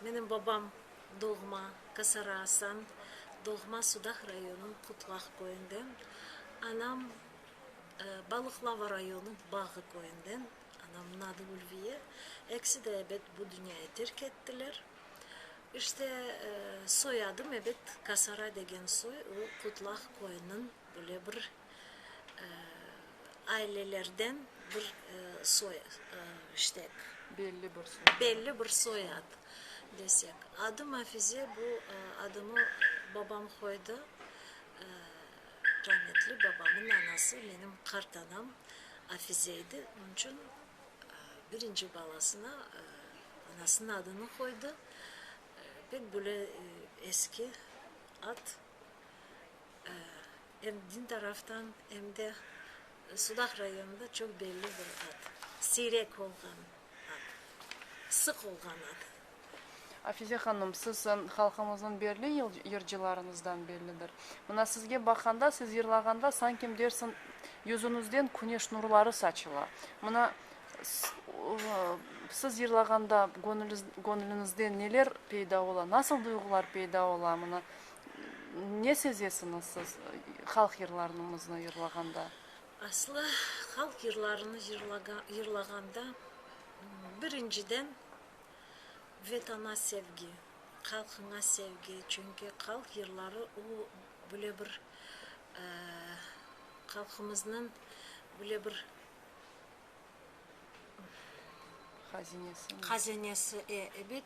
Menim babam doğma Kasara Asan, doğma Sudah rayonınıñ Qutlaq köyünden, anam Balıqlava rayonınıñ Bağı köyünden, anamnıñ adı Ülviye. Ekisi de ebet bu dünyayı terk ettiler. İşte, soyadım ebet Kasara degen soy, o Qutlaq köyüniñ böyle bir ailelerden bir soy, ştek, belli bir soy, belli bir soyad desek, adı Mafize, bu adımı babam qoydı, rahmetli babamnıñ anası menim qartanam Afize idi, onıñ içün birinci balasına anasınıñ adını qoydı, pek böyle eski ad. em din taraftan, em de Sudaq rayonında çoq belli bir ad, siyrek olğan ad, sıq olğan ad. Afize hanım, siz halqımıznıñ belli yırcılarınızdan bellidir. Mına sizge baqanda, siz yırlağanda sankim dersiñ yüzüñizden küneş nurları saçıla. Mına siz yırlağanda göñülüñizde neler peyda ola, nasıl duyğular peyda ola? Mına. Ne sezesiñiz siz halq yırlarımıznı yırlağanda? Aslı, halq yırlarını yırlağanda, birinciden, Vatana sevgi, halqıña sevgi. Çünki halq yırları o, böyle bir, halqımıznıñ böyle bir, Hazinesi, e, ebet,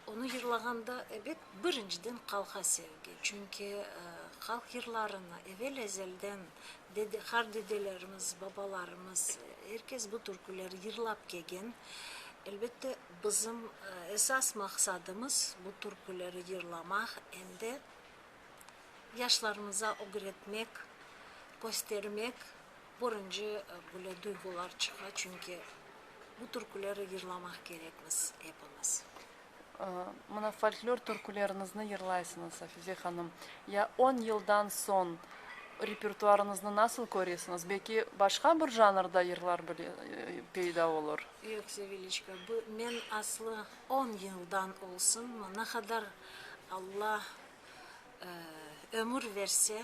onı yırlağanda, ebet, birinciden qalqa sevgi, çünki halq yırlarını evel ezelden qar dedelerimiz, babalarımız, er kes bu türküleri yırlap kelgen. Elbette, bizim esas maqsadımız bu türküleri yırlamaq, em de yaşlarımıza ögretmek, köstermek. Körünce böyle duyğular çıqa, çünki bu türküleri yırlamaq kerekmiz epimiz. Mına folklor türküleriñizni yırlaysıñız, Afize hanım. Ya on yıldan soñ repertuarıñıznı nasıl köresiñiz? Belki başqa bir janrda yırlar peyda olur? Yoq, Seviliçka, men aslı on yıldan olsun, ne qadar Alla ömür verse,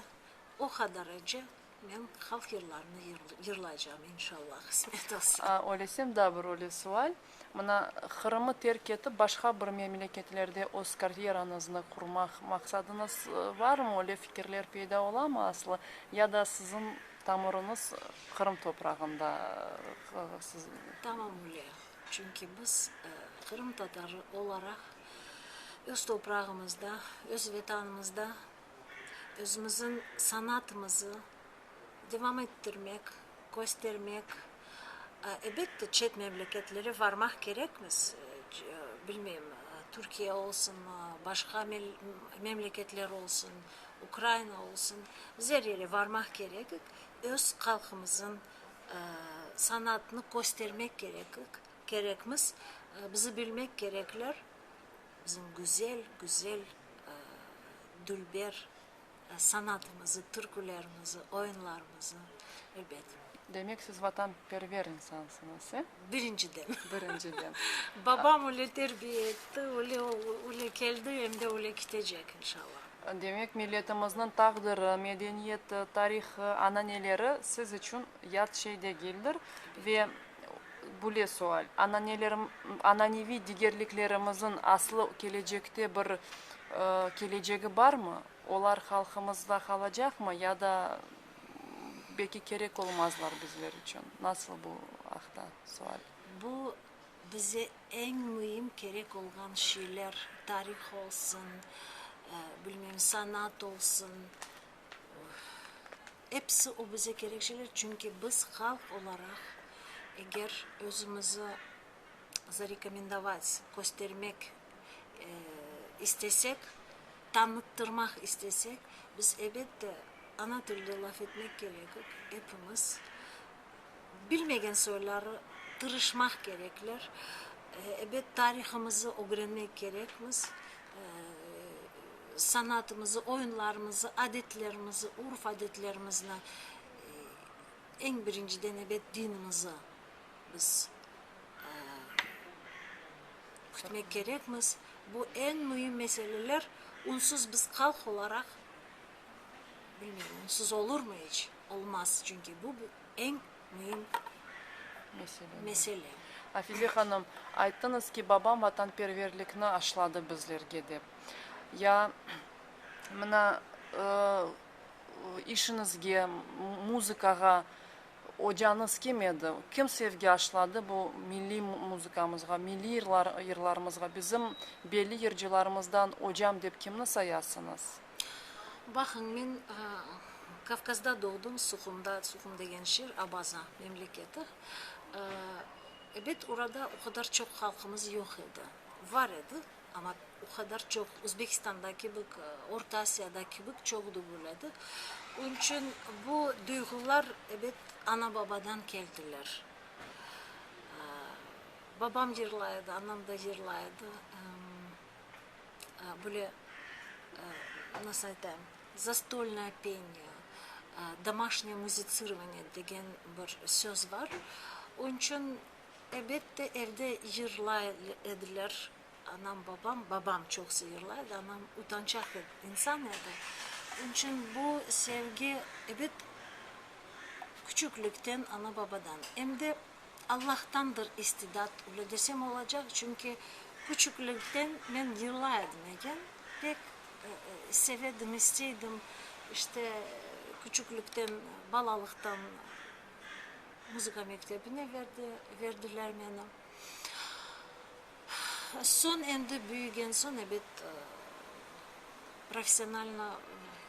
o qadarıcı Men halq yırlarını yırlaycam, inşallah, qısmet olsa. Öylesem, daa bir öyle sual. Mına, Qırımı terk etip, başqa bir memleketlerde öz karyeranıznı qurmaq maqsadıñız barmı? Öyle fikirler peyda olamı aslı? Ya da siziñ tamırıñız Qırım toprağında? Tamam öyle. Çünki biz, qırımtatarı olaraq, öz toprağımızda, öz Vetanımızda Özümizin sanatımızı devam ettirmek, köstermek, ebette çet memleketlere varmaq kerekmiz, bilmeyim, Türkiye olsun, başqa memleketler olsun, Ukraina olsun, biz er yere varmaq kerekik, öz halqımızın sanatını köstermek kerekik, kerekmiz, bizi bilmek kerekler, Bizim güzel, güzel dülber sanatımızı, türkülerimizi, oyunlarımızı, elbet. Demek, siz vatanperver insansıñız, e? Birinciden. Birinciden. Babam öyle terbiye etti, öyle öyle keldi, em de öyle kitecek, inşallah. Demek, milletimizniñ taqdiri, medeniyeti, tarihı, ananeleri siz içün yat şey degildir ve Bule sual, ananeviy digerliklerimizin aslı kelecekte bir kelecegi barmı? Olar halqımızda qalacaqmı ya da belki kerek olmazlar bizler içün? Nasıl bu aqta sual? Bu bize eñ müim kerek olğan şeyler, tarih olsun, bilmeyim, sanat olsun. Episi o bize kerek şeyler, çünki biz halq olaraq, eger özümizi zarekomendovac, köstermek istesek, tanıttırmaq istesek, biz, ebet de, ana tilde laf etmek kerekik, epimiz. Bilmegen soyları tırışmaq kerekler. Ebet, tarihımızı ögrenmek kerekmiz. Sanatımızı, oyunlarımızı, adetlerimizi, urf-adetlerimizni, eñ birinciden, ebet, dinimizi biz kütmek kerekmiz. Bu eñ müim meseleler. Onsuz biz halq olaraq, bilmeyim, onsuz olurmı iç? Olmaz, çünki bu eñ müim mesele. Afize hanım, ayttıñız ki, babam vatanperverlikni aşladı bizlerge dep. Ya mına işiñizge, muzıkağa ocañız kim edi? Kim sevgi aşladı bu milliy muzıkamızğa, milliy yırlarımızğa? Bizim belli yırcılarımızdan ocam dep kimni sayasıñız? Baqıñ, men Kavkazda doğdım, Suhumda, Suhum degen şeer, Abaza memleketi. Ebet, orada o qadar çoq halqımız yoq edi. Bar edi, amma o qadar çoq, Özbekistanda kibik, Orta Asiyada kibik çoq degil edi. Onıñ içün bu duyğular, ebet, ana-babadan keldiler. Babam yırlay edi, anam da yırlay edi. böyle, nasıl aytayım, zastolnaya peniya, domaşnıye muzitsirvaniye degen bir söz bar. Onıñ içün, elbette, evde yırlay ediler, anam, babam, babam çoqusı yırlay edi, anam utançaq insan edi. Onıñ içün bu sevgi, ebet, küçüklikten ana-babadan. Em de Allahtandır istidat, öyle desem olacaq, çünki küçüklikten men yıla edim eken, pek sevedim, isteydim, işte, küçüklikten, balalıqtan muzıka mektebine berdi, berdiler meni. Soñ endi büyügen soñ, ebet, professionalno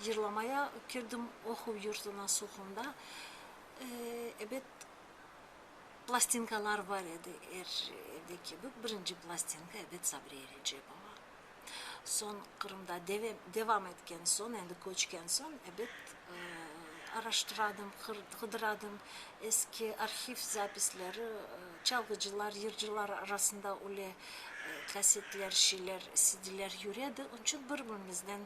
yırlamaya kirdim, oquv yurtuna, Suhumda. Ebet, plastinkalar bar edi, er evde kibi, birinci plastinka, ebet, Sabriye Recepova. Soñ Qırımda deve, devam etken soñ, endi köçken soñ, ebet, araştıradım, qır, qıdıradım, eski arhiv zapisleri, çalğıcılar, yırcılar arasında öyle kasetler, şeyler, sidiler yüredi, onıñ içün bir-birimizden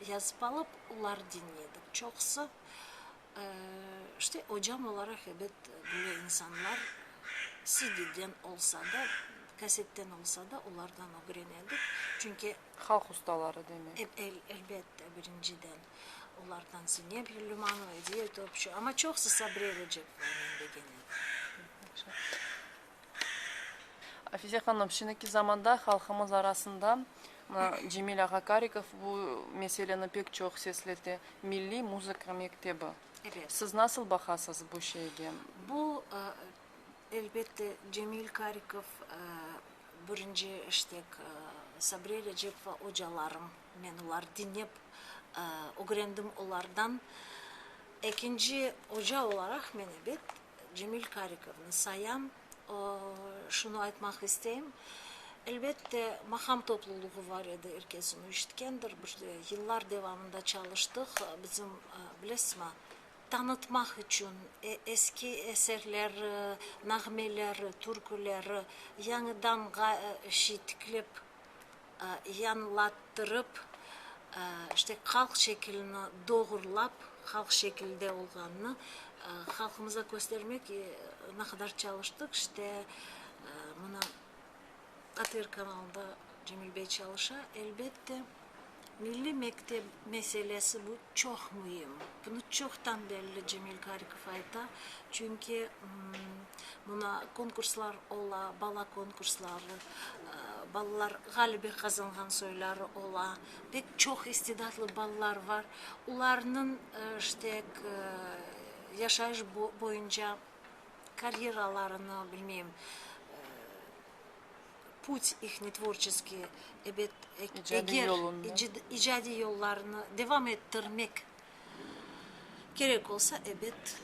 yazıp alıp, olar diñleydik. Çoqusı İşte, ocam olaraq ebet böyle insanlar CDden olsa da, kasetten olsa da olardan ögrenedik, çünki. Halq ustaları demek. Elbette, birinciden olardan Zeynep Lülümanova, Ediye Topçu, amma çoqusı Sabriye Recep Ağa, men begenedi. Afize hanım, şimdiki zamanda halqımız arasında Cemil ağa Karikov bu meseleni pek çoq seslete, milliy muzıka mektebi. Siz nasıl baqasız bu şeyge? Bu, elbette, Cemil Karikov, birinci iştek Sabriye Recepova ocalarım, men olar diñlep ögrendim olardan. Ekinci oca olaraq men, ebet, Cemil Karikovnı sayam, şunı aytmaq isteyim, elbette, maqam topluluğı bar edi, er kes onı eşitkendir, bir yıllar devamında çalıştıq, bizim, bilesizmi, tanıtmaq içün eski eserleri, nağmeleri, türküleri yañıdan tiklep yañlattırıp, işte, halq şekilini doğrulap, halq şekilde olğanını halqımıza köstermek ne qadar çalıştıq, işte, mına, ATR kanalında Cemil bey çalışa, elbette, milliy mektep meselesi bu, Çoq müim. Bunı çoqtan belli Cemil Karikov ayta, çünki mına konkurslar ola, bala konkursları, balalar ğalebe qazanğan soyları ola, pek çoq istidatlı balalar bar, olarnıñ ştek yaşayış boyunca karyeralarını, bilmeyim, Put ihni tvorçeskiy, ebet, eger, icadiy yollarını devam ettirmek kerek olsa, ebet,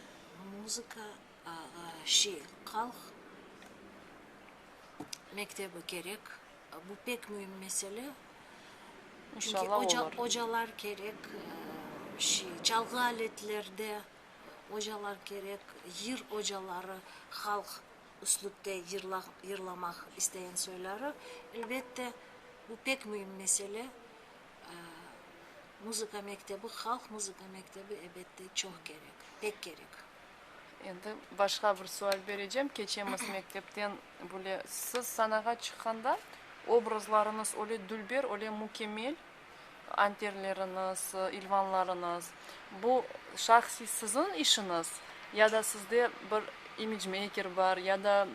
muzıka, şey, halq mektebi kerek. Bu pek müim mesele. İnşallah, ocalar kerek, şey, çalğı aletlerde ocalar kerek, yır ocaları, halq üslüpte yırlamaq isteyen soyları, elbette, bu pek müim mesele. Muzıka mektebi, halq muzıka mektebi, elbette, çoq kerek, pek kerek. Endi başqa bir sual berecem, keçemiz mektepten böyle. Siz sanağa çıqqanda obrazlarıñız öyle dülber, öyle mükemmel, Anterleriñiz, ilvanlarıñız, bu şahsiy siziñ işiñiz ya da sizde bir imidjmeyker bar ya da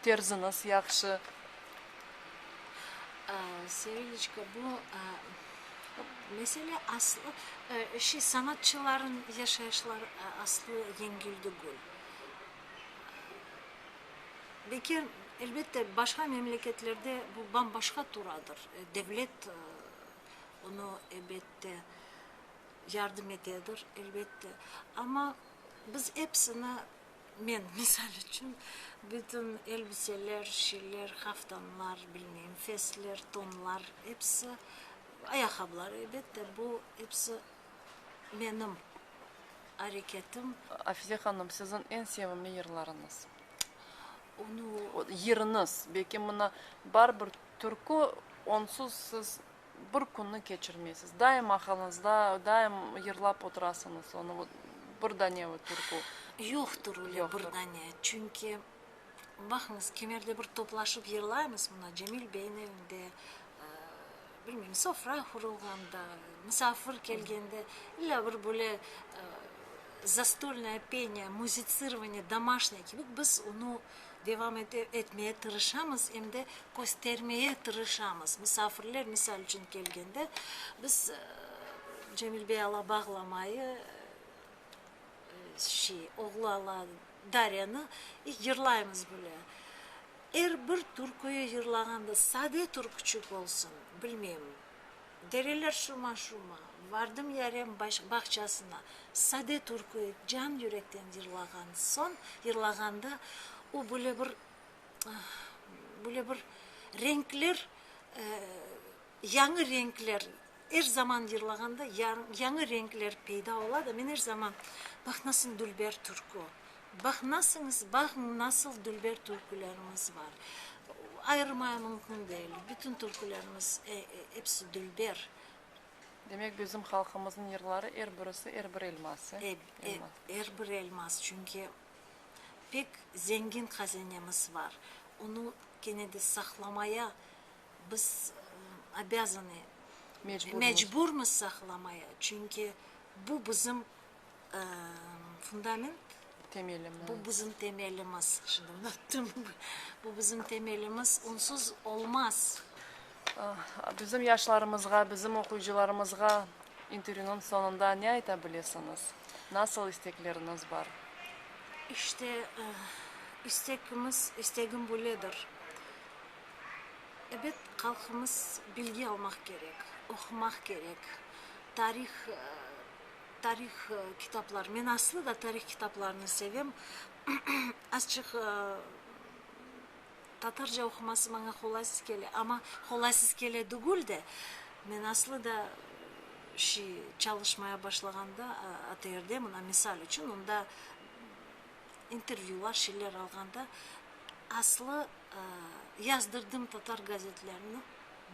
terziñiz yahşı? Seviliçka, bu mesele aslı, şey, sanatçılarnıñ yaşayışları aslı yengil degil. Lekin, elbette, başqa memleketlerde bu bam-başqa turadır. Devlet onı, elbette, yardım etedir, elbette. Amma biz epsini, men misal içün, bütün elbiseler, şeyler, qaftanlar, bilmeyim, festler, tonlar, episi, ayaqabılar, elbette, bu episi, menim areketim. Afize hanım, siziñ eñ sevimli yırlarıñız? Onu. Yırıñız, belki mına bar bir türkü, onsuz siz bir künni keçirmeysiz, daim aqılınızda, daim yırlap oturasıñız onu, bir dane türkü. Yoqtır öyle bir dane, çünki. Baqıñız, kimerde bir toplaşıp yırlaymız, mına, Cemil beyniñ evinde, bilmeyim, sofra qurulğanda, musafir kelgende, illa bir böyle zastolnaya penya, muzitsirvaniye domaşnıye kibi biz onı devam etmeye tırışamız, em de köstermeye tırışamız. Musafirler, misal içün, kelgende, biz Cemil bey ala bağlamayı, şey, oğlu ala Daryanı yırlaymız bile. Er bir türküyü yırlağanda sade türküçik olsun, bilmeyim, Dereler şuma-şuma, Vardım yarem bağçasına, sade türküyü can yürekten yırlağan soñ, yırlağanda o böyle bir, böyle bir renkler Yañı renkler, er zaman yırlağanda yañı renkler peyda ola da, men er zaman, Bax, nasıl dülber türkü, bax, nasıñız, baqıñ, nasıl dülber türkülerimiz bar, ayırmaya mümkün degil, bütün türkülerimiz episi dülber. Demek, bizim halqımıznıñ yırları er birisi er bir elmas, e? Er bir elmas, çünki pek zengin hazinemiz bar, onı kene de saqlamaya Biz obâzanı, mecburmız saqlamaya, çünki bu bizim fundament, bu bizim temelimiz, şimdi unuttum, bu bizim temelimiz, onsuz olmaz. Bizim yaşlarımızğa, bizim oquyıcılarımızğa intervyunıñ soñunda ne ayta bilesiñiz? Nasıl istekleriniz bar? İşte, istekimiz, istegim böyledir, Ebet, halqımız bilgi almaq kerek, oqumaq kerek, tarih, tarih kitaplar, men aslı da tarih kitaplarını sevem, azçıq tatarca oquması maña qolaysız kele, amma qolaysız kele degül de, men aslı da şi çalışmaya başlağanda ATR-de, mına misal içün, onda intervyülar şeyler alğanda aslı yazdırdım tatar gazetlerini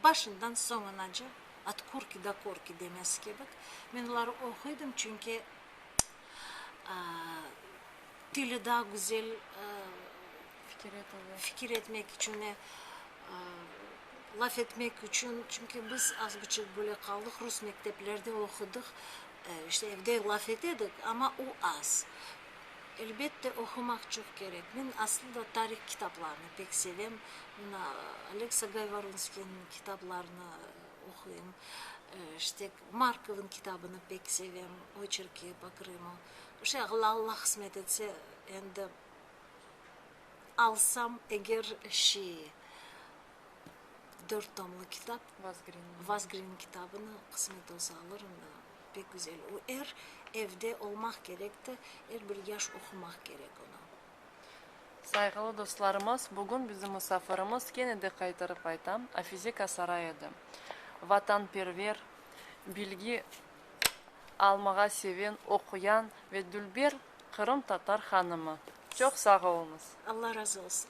başından soñunaca at korki da korki demes kebik men oları oquydım çünki tili daa güzel fikir etmek içün laf etmek içün çünki biz az buçuk böyle qaldıq rus mekteplerde oqudıq İşte, evde laf etedik, amma o az. Elbette, oqumaq çoq kerek. Men aslı da tarih kitaplarını pek sevem. Men Aleksa Gayvorunskiyniñ kitaplarını oquyım. İşte, Markovnıñ kitabını pek sevem, Oçerki po Krımı. İşte, eğer Alla qısmet etse, endi alsam eger şiy, dört tomlı kitap, Vazgrinniñ kitabını qısmet olsa alırım da, pek güzel. O er evde olmaq kerek te, er bir yaş oqumaq kerek onı. Sayğılı dostlarımız, bugün bizim musafirimiz, kene de qaytarıp aytam, Afize Kasaray edi. Vatanperver, bilgi almağa seven, oquyan ve dülber qırımtatar hanımı. Çoq sağ oluñız! Alla razı olsun!